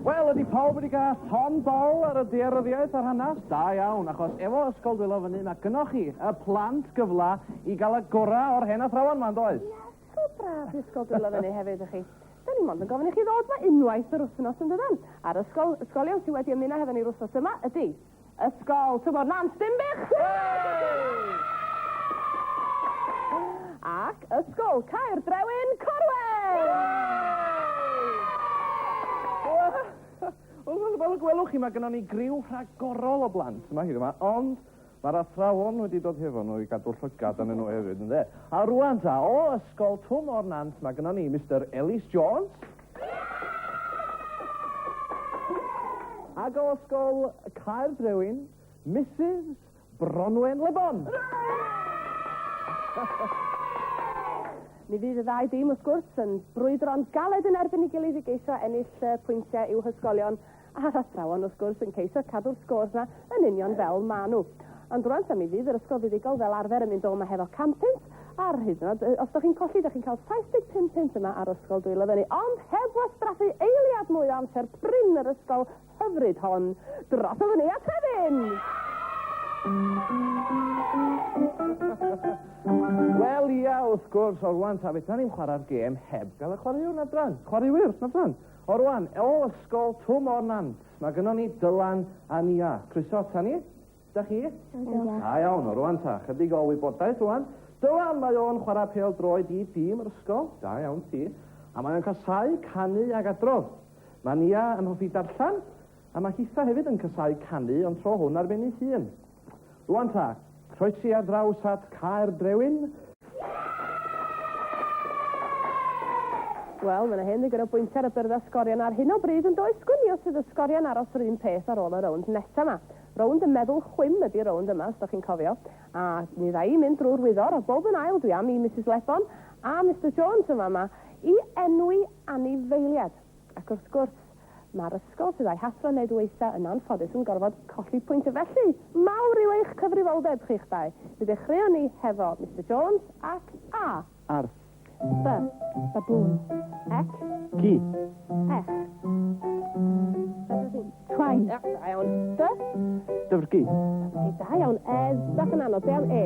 Wel, ydy pawb wedi cael ton dol ar y dearyddiaeth a'r hanes? Da iawn, achos efo Ysgol Dwylo fyny, mae gynoch chi, y plant, gyfla i gael y gorau o'r hen athrawon ma'n does? Yes. So braf disgol dwylo fyny hefyd ych chi. Da ni mond yn gofyn i chi ddod mae unwaith yr wythnos yn dydan. A'r ysgol, ysgolion sydd wedi ymuno hefo ni'r wythnos yma ydy Ysgol Tymor Nant Dinbych! Ac Ysgol Caer Drewyn Corwen! Wel, fel y gwelwch chi, mae gennym ni griw rhagorol o blant yma hyd yma, ond Mae'r athrawon wedi dod hefo nhw i gadw llygad arnyn nhw hefyd, ynde? A rwan ta, o ysgol Twm o'r Nant, mae gyda ni Mr Ellis Jones. Ac o ysgol Caer Drewin, Mrs Bronwen Lebon. Mi fydd y ddau dîm, wrth gwrs, yn brwydro'n galed yn erbyn ei gilydd i geisio ennill pwyntiau i'w hysgolion a'r athrawon wrth gwrs yn ceisio cadw'r scores na yn union fel ma nhw. Ond rwan ta mi fydd yr ysgol fuddugol fel arfer yn mynd o yma hefo cam pint, ar hyd yn oed, os da chi'n colli, da chi'n cael 75 pint yma ar ysgol dwylo fyny, ond heb wastraffu eiliad mwy o amser prin yr ysgol hyfryd hon. Dros o fyny a trefyn! Wel ia, wrth gwrs, o'r wan ta, fe da ni'n chwarae'r gêm heb gael y chwaraewr na dran. Chwaraewyr, na dran. O rwan, o ysgol Twm o'r Nant, mae gynnon ni Dylan a Nia. Croeso ata ni. Da chi? Da iawn, o rwan ta, chydig o wybodaeth rwan. Dylan, mae o'n chwarae pel droed i dîm yr ysgol, da iawn ti. A mae o'n casau canu ag adrodd. Mae Nia yn hoffi darllen, a mae Hitha hefyd yn casau canu, ond tro hwn ar ben ei hun. Rwan ta, croesi ar draws at Caer Brewyn. Wel, mae yna hen ddigon o bwyntiau ar y byrdd a sgorion ar hyn o bryd yn does gwnio sydd y sgorion aros yr un peth ar ôl y rownd nesa yma. Rownd y meddwl chwim ydy rownd yma, os da chi'n cofio. A mi dda i mynd drwy'r wyddor, a bob yn ail dwi am i Mrs Lebon a Mr Jones yma yma i enwi anifeiliad. Ac wrth gwrs, mae'r ysgol sydd a'i hathro yn neud waetha yn anffodus yn gorfod colli pwynt a felly, mawr yw eich cyfrifoldeb chi'ch dau. Mi ddechreuon ni hefo Mister Jones ac A. Ar. B. Baboon. Ec. Ci. Ech. Twain. Da iawn. D. Dyfrgi. Da iawn. E. Bach yn anodd. Be am E?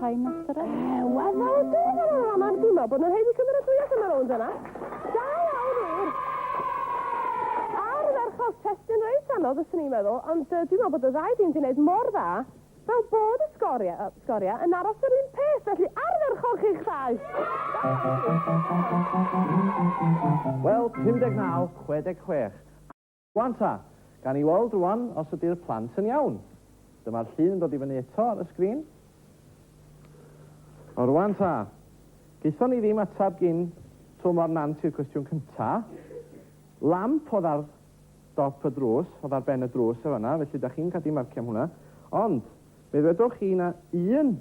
Rhai master e? Ewa, dda, dda, dda, dda, mae'n dwymo bod nhw'n heiddi cymryd fwy allan ar ôl yna. Da iawn, wir. Ar y ferchog, testyn reit anodd, ysyn ni'n meddwl, ond uh, dwi'n meddwl bod y ddau dîm wedi gwneud mor dda fel bod y sgoriau, uh, sgoria yn aros yr un peth, felly arferchog chi'ch ddau. Wel, 59, 66. Wan ta! Gawn ni weld rwan os ydi'r plant yn iawn. Dyma'r llun yn dod i fyny eto ar y sgrin. O rwan ta! Gaethon ni ddim atab gin to mor nant i'r cwestiwn cynta. Lamp oedd ar dop y drws, oedd ar ben y drws yn fanna, felly da chi'n cadw marcio am hwnna. Ond, fe ddwedwch chi na un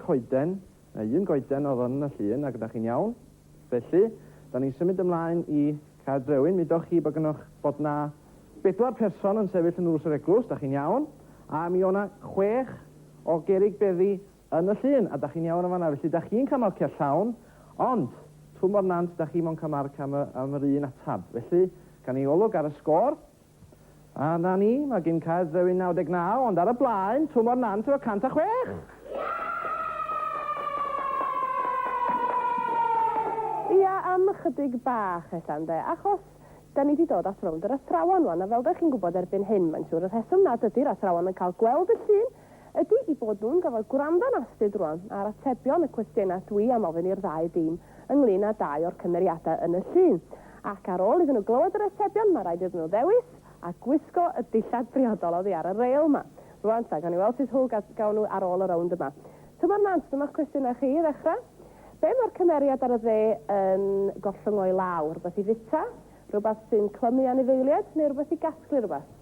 coeden, neu un goeden oedd yn y llun, ac ydach chi'n iawn. Felly, da ni'n symud ymlaen i Caer Drewyn. Midoch chi bod gynoch bod na bedwar person yn sefyll yn ddrws yr eglwys, da chi'n iawn, a mi o'na chwech o gerrig beddi yn y llun, a da chi'n iawn yn fanna. Felly, da chi'n cael marciau llawn, ond twm o'r nant, da chi mond cael marc am, y, am yr un atab. Felly, gan i olwg ar y sgôr, A 'na ni, mae gin Caer Ddrewin 99, ond ar y blaen, Twm o'r Nant efo 106! Ia, am ychydig bach ella, ynde, achos 'da ni 'di dod at rownd yr athrawon 'wan, a fel 'da chi'n gwybod erbyn hyn, mae'n siŵr, y rheswm nad ydi'r athrawon yn cael gweld y llun ydy i bod nhw'n gorfod gwrando'n astud rwan ar atebion y cwestiynau dwi am ofyn i'r ddau dîm ynglyn â dau o'r cymeriadau yn y llun. Ac ar ôl iddyn nhw glywed yr atebion, mae rhaid iddyn nhw ddewis a gwisgo y dillad briodol oddi ar y reil 'ma. Rwan ta, gawn ni weld sut hwyl gawn nhw ar ôl y rownd yma. Tymor Nant, dyma'ch cwestiynau chi i ddechrau. Be mae'r cymeriad ar y dde yn gollwng o'i law? Rhywbeth i fwyta? Rhywbeth sy'n clymu anifeiliaid? Neu rhywbeth i gasglu rhywbeth?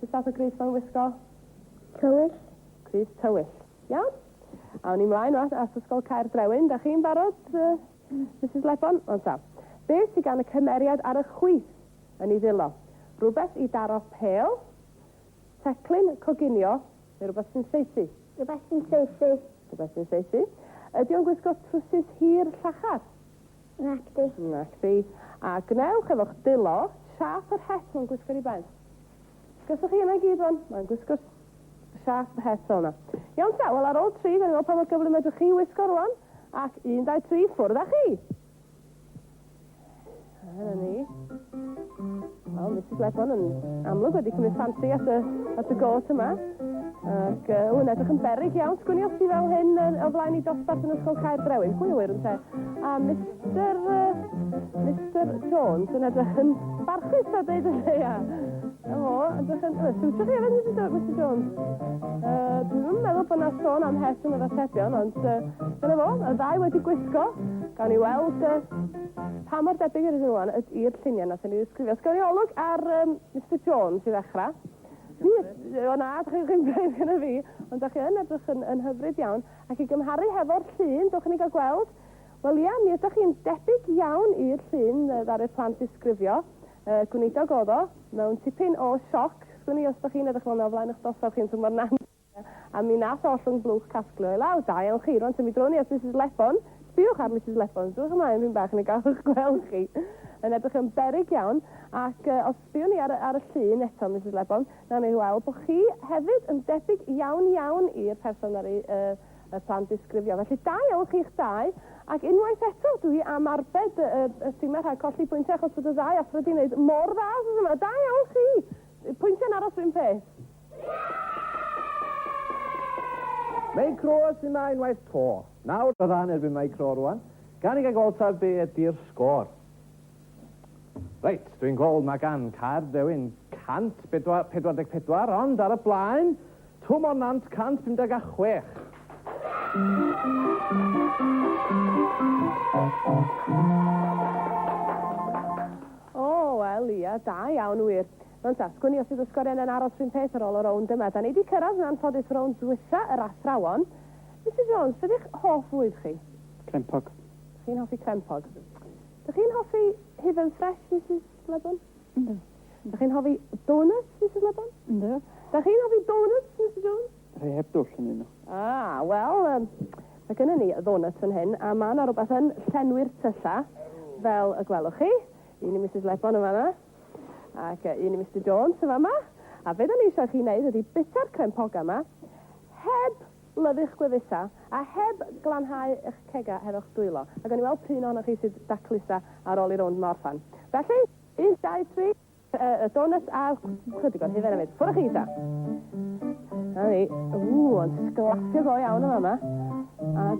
Sut fath o grys mae'n wisgo? Tywyll. Crys tywyll. Iawn. Awn ni mlaen at, at Ysgol Caer Brewyn. Da chi'n barod, uh, Mrs Lebon? Ond ta. Be sy'n gan y cymeriad ar y chwith yn ei ddilo? Rhywbeth i daro pel, teclyn, coginio, neu rhywbeth sy'n saethu? Rhywbeth sy'n saethu. Rhywbeth sy'n saethu. Ydy o'n gwisgo trwsus hir llachar? Nac di. Nac di. A gwnewch efo'ch dilo siâp yr het mae'n gwisgo'r i ben. Gyswch chi yna gyd rwan, mae'n gwisgo'r siâp yr het fel yna. Iawn ta, wel ar ôl tri, gael ni weld pa mor gyflym ydych chi wisgo rwan, ac un, dau, tri, ffwrdd â chi! A dyna ni. Wel, mae Sid Lefon yn amlwg wedi cymryd ffansi at y, at y gôt yma. Ac uh, wy'n edrych yn berig iawn. Sgwni os ti fel hyn uh, o flaen i dosbarth yn ysgol Caer Brewyn. Pwy yw'r yn te? A Mr... Uh, Mr Jones yn edrych yn barchus a dweud y lleia. A fo, edrych yn... Uh, siwtio chi efo Mr Jones? Mr Jones. Uh, dwi'n meddwl bod yna sôn am het yn yr atebion, ond uh, dyna fo, y ddau wedi gwisgo. Gawn ni weld uh, Pa mor debyg ydyn nhw wan yd i'r lluniau nathon ni ddisgrifio? Sgen i olwg ar um, Mr Jones i ddechrau. Fi, o na, dych chi'n chi'n braidd gyda fi, ond dych chi yn edrych yn, yn hyfryd iawn. Ac i gymharu hefo'r llun, dych chi'n ei gael gweld? Wel ia, mi ydych chi'n debyg iawn i'r llun ddaru'r plant ddisgrifio. Uh, gwneidog oedd o, mewn tipyn o sioc, sgwn i os dych chi'n edrych fel yna o flaen eich dosaf chi'n tymor nant. a mi nath ollwng blwch casglu o i lawr. Da iawn chi. Rwan, tyfu droni at Misus Lebon. Sbïwch ar Misus Lebon. Sbïwch ymlaen ddipyn bach yn y galwch gwelwch chi. Yn edrych yn beryg iawn. Ac uh, os sbïwn ni ar, ar y llun eto, Misus Lebon, nawn ni weld bod chi hefyd yn debyg iawn iawn i'r person ar ei uh, y plan disgrifio. Felly da iawn chi'ch dau, ac unwaith eto dwi am arbed y, y, y timau rhag colli pwyntiau achos bod y ddau athro wedi gwneud mor dda os yma. Da iawn chi! Pwyntiau'n aros rhywun peth. Mae Croes yma unwaith to. Nawr y fan erbyn mae Cro rwan. Gan i gael gweld ta be ydy'r sgôr. Reit, dwi'n gweld mae gan Caerddewin 144 ond ar y blaen, Twm o'r Nant 156. O, wel ia, da iawn wir. Ond ta, sgwn i os fydd y sgoriau yna'n aros rhywun peth ar ôl y rownd yma. Da ni di cyrraedd yn anffodus y rownd dwytha, yr athrawon. Mister Jones, beth yw'ch hoff fwyd chi? Crempog. Chi'n hoffi crempog? Dych chi'n hoffi hufen ffres, Mrs Lebon? Ynddo. Dych chi'n hoffi donuts, Mrs Lebon? Ynddo. Dych chi'n hoffi donuts, Mr Jones? Rhai heb dwll yn un. Ah, wel, um, mae gennym ni ddonuts yn hyn, a mae yna rhywbeth yn llenwi'r tyllau, fel y gwelwch chi. Un i Mrs Lebon yn fanna. Ac un i Mister Jones yn fama. A be da ni eisiau chi wneud ydy bita'r crempogau yma, heb lyfu'ch gwefusau, a heb glanhau eich cegau hefo'ch dwylo. A gawn ni weld pryn ohonoch chi sydd da clusa ar ôl i rownd ma orffan. Felly, un, dau, tri, y donuts a chydig o'r hufen hefyd. Ffwrdd â chi ta. Na ni. Ww, ond sglafio go iawn yn fama. A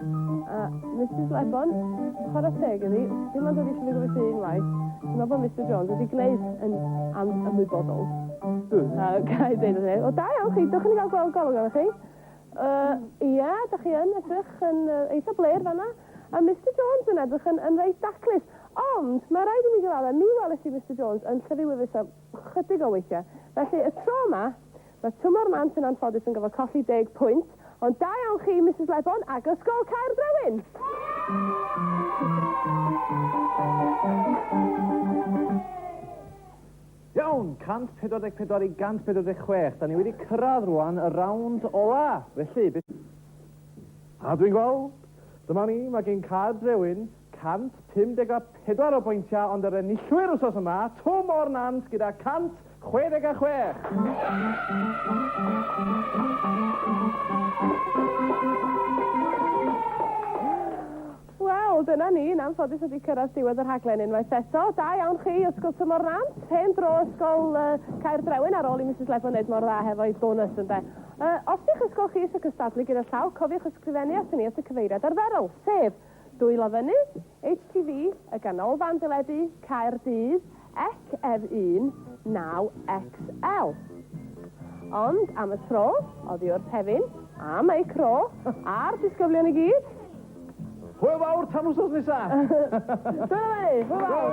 A Misus Lebon, chwarae teg iddi, dim ond wedi llugo fy llun waith, dwi'n meddwl bod Mister Jones wedi gwneud yn am ymwybodol. A ga i ddeud wrth ei, o da iawn chi, dwch yn i gael gweld golwg arnoch chi. Uh, ia, da chi yn edrych yn uh, eitha bler fanna. A Mister Jones yn edrych yn, yn reit daclus. Ond, mae rhaid i mi gyfadda, mi welys i Mister Jones yn llyfu wifus am chydig o weithiau. Felly, y tro yma, Mae Tymor Nant yn anffodus yn gorfod colli deg pwynt, ond da iawn chi, Misus Lebon ac Ysgol Caerbrewyn! Iawn, 144 i 146. Da ni wedi cyrraedd rwan y rawnd ola. Felly, beth... A dwi'n gweld, dyma ni, mae gen Caerbrewyn 154 o bwyntiau ond yr enillwyr wsos yma, Twm o'r Nant gyda 166. Wel, dyna ni, yn anffodus wedi cyrraedd diwedd y rhaglen unwaith eto. Da iawn chi, Ysgol Twm o'r Nant. Hen dro Ysgol uh, Caerdrewen ar ôl i Mrs Lebo wneud mor dda hefo'i bonus ynde. Uh, os di'ch ysgol chi eisiau cystadlu gyda llaw, cofiwch ysgrifennu at ni at y cyfeiriad arferol, sef Dwylo Fyny, HTV, y Ganolfan Deledu, Caerdydd, ec ef 19XL. Ond am y tro, oddi wrth Hefin, a Meic Ro, a'r disgyblion i gyd. Hwyl fawr tan wsos nesa! Dwylo Fyny, hwyl fawr!